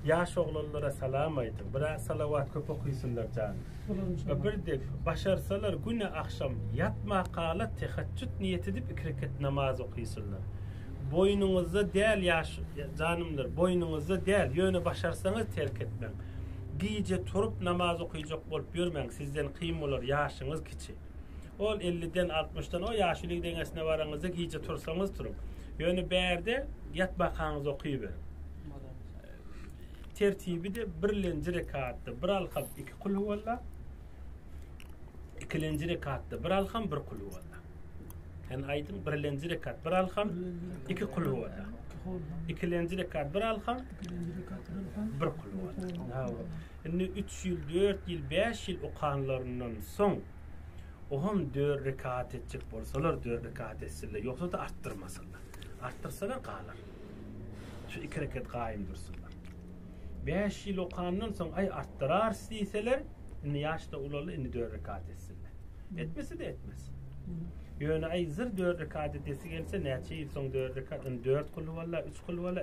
Ýaş oglanlara salam aýdyň. Biraz salawat köp okysynlar jan. Birdek başarsalar güne agşam ýatmakala tehajjut niýet edip iki rekat namaz okysynlar. Boýnuňyzda däl ýaş janymlar boýnuňyzda däl ýöne başarsaňyz terk etmäň. Gije turup namaz okyjak bolup ýörmäň sizden kyn bolar ýaşyňyz kiçi. Ol elliden, altmyşdan o ýaşuly deňesine baraňyzda gije tursaňyz turuň. Ýöne bärde ýat bakaňyz okyberiň. Tertibi de birlenji rekatda bir alham iki kul huwalla. Ikilenji rekatda bir alham bir kul huwalla. Sen aýdyň birlenji rekat bir alham iki kul huwalla. Ikilenji rekat bir alham bir kul huwalla. Indi üç ýyl, dört ýyl, bäş ýyl okanlaryndan soň, oňam dört rekat etjek bolsalar, dört rekat etsinler, ýogsa-da artdyrmasynlar. Artdyrsalar galar. Şu iki rekat gaýym dursunlar. Bäş ýyl okandan soň, aý, artdyrarys diýseler, indi ýaş-da ulaldy, indi dört rekat etsinler. Etmese-de etmez. Ýöne, aý, zyr dört rekat edesi gelse, näçe ýyl soň dört rekat, indi dört kylwalla, üç kylwalla,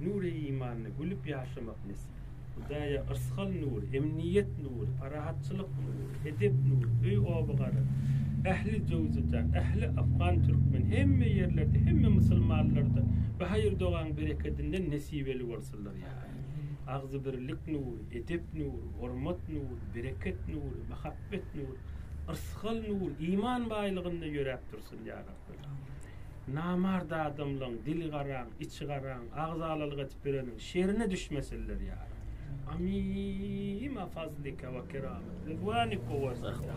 Nury imanly gülüp ýaşamak nesip. Hudaýa yrsgal nur, emniýet nur, parahatçylyk nur, edep nur, öý oba gara, ähli jöwzada, ähli afgan türkmen, hemme ýerlerde, hemme musulmanlarda bu haýyr dogaň berekedinden nesibeli bolsunlar ýa. Agzy birlik nur, edep nur, hormat nur, bereket nur, mahabbet nur, yrsgal nur, iman baýlygynda ýöräp dursun ýa Rabbi. Namart adamlaň dili garaň, içi garaň, agzalalyk etip ýöreniň şerine düşmesinler ýara. Amin a fazlika we keramet we zwanika we zahra.